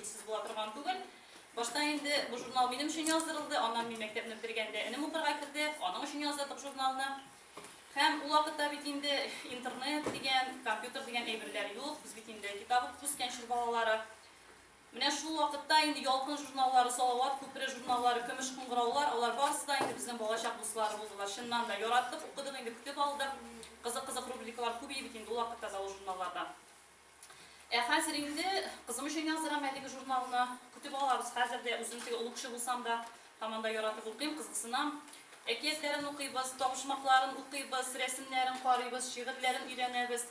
Сез була торган түгел. Башта инде бу журнал минем өчен яздырылды, аннан мин мәктәпне бетергәндә энем укырга керде, аның өчен яздырдык журналны. Һәм ул вакытта бит инде интернет дигән, компьютер дигән әйберләр юк, без бит инде китап укып үскән чор балалары. Менә шул вакытта инде Ялкын журналлары, Салават күпере журналлары, Көмеш кыңгыраулар, алар барысы да инде безнең балачак дуслары булдылар. Чыннан да яраттык, укыдык, инде көтеп алдык. Кызык-кызык рубрикалар күп иде бит инде ул вакытта да ул журналларда. Ә хәзер инде кызым өчен яздырам әлеге журналны. Көтеп алабыз хәзер дә. Үзем теге олы кеше булсам да, һаман да яратып укыйм, кызыксынам. Әкиятләрен укыйбыз, табышмакларын укыйбыз, рәсемнәрен карыйбыз, шигырьләрен өйрәнәбез.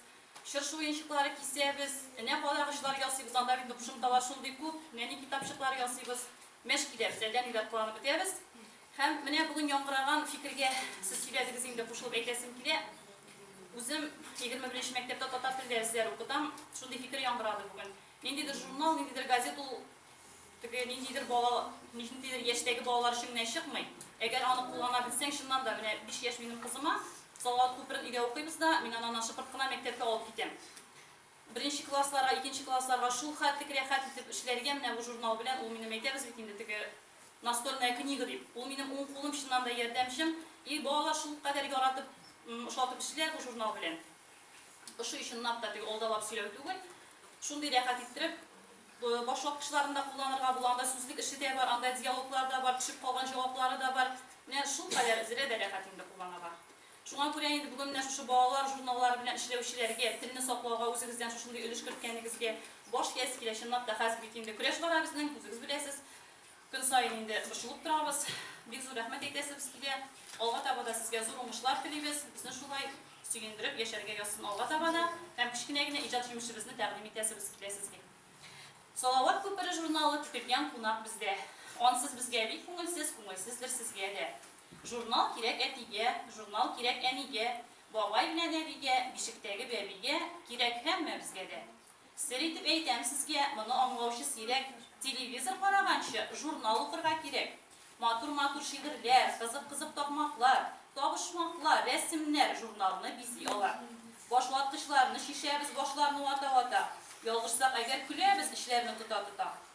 Чыршы уенчыклары кисәбез. Энә кадагычлар ясыйбыз, анда бит кушымталар шундый күп. Нәни китапчыклар ясыйбыз. Мәш киләбез, әллә ниләр кыланып бетәбез. Һәм менә бүген яңгыраган фикергә сез сөйләдегез инде, кушылып әйтәсем килә. Үзем егерме беренче мәктәптә татар телдә әзерләр укытам, шундый фикер яңгырады бүген. Ниндидер журнал, ниндидер газет ул теге ниндидер бала, ниндидер яшьтәге балалар өчен генә чыкмый. Әгәр аны куллана белсәң, чыннан да, менә биш яшь минем кызыма Салават күперен өйдә укыйбыз да, мин ананы шыпырт кына мәктәпкә алып китәм. Беренче классларга, икенче классларга шул хәтлек рәхәт итеп эшләргә менә бу журнал белән, ул минем, әйтәбез бит инде, теге Настольная книга дип, ул минем уң кулым, чыннан да ярдәмчем. И, балалар шулкадәр яратып, ошатып эшлиләр бу журнал белән. Ошый, чынлап та, теге алдалап сөйләү түгел. Шундый рәхәт иттереп, башваткычларын да кулланырга була, анда сүзлек эше дә бар, анда диалоглар да бар, төшеп калган җаваплары да бар. Менә шулкадәр, Зерә дә рәхәт инде кулланырга. Шуңа күрә инде бүген менә шушы балалар журналлары белән эшләүчеләргә, телне саклауга үзегездән шушындый өлеш керткәнегезгә баш иясе килә. Чынлап та, хәзер бит инде көрәш бара безнең, үзегез беләсез. Көн саен инде борчылып торабыз. Бик зур рәхмәт әйтәсебез килә. Алга таба да сезгә зур уңышлар телибез. Безне шулай сөендереп яшәргә язсын алга таба да һәм кечкенә генә иҗат җимешебезне тәкъдим итәсебез килә сезгә. Салават күпере журналы көтелгән кунак бездә. Ансыз безгә бик күңелсез, күңелсездер сезгә дә. Журнал кирәк әтигә, журнал кирәк әнигә, бабай белән әбигә, бишектәге бәбигә, кирәк һәммәбезгә дә. Сер итеп әйтәм сезгә, моны аңлаучы сирәк. Телевизор караганчы, журнал укырга кирәк. Матур-матур шигырьләр, кызык-кызык такмаклар, табышмаклар, рәсемнәр журналны бизи ала. Башваткычларны чишәбез башларны вата-вата. Ялгышсак әгәр, көләбез эчләрне тота-тота.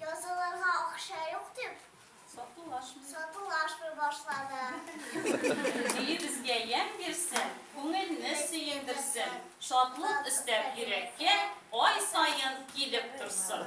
Язылырга акча юк дип, сатулашмый сатулашмый башлады. Җие безгә ямь бирсен, күңелне сөендерсен, шатлык өстәп йөрәккә ай саен килеп торсын.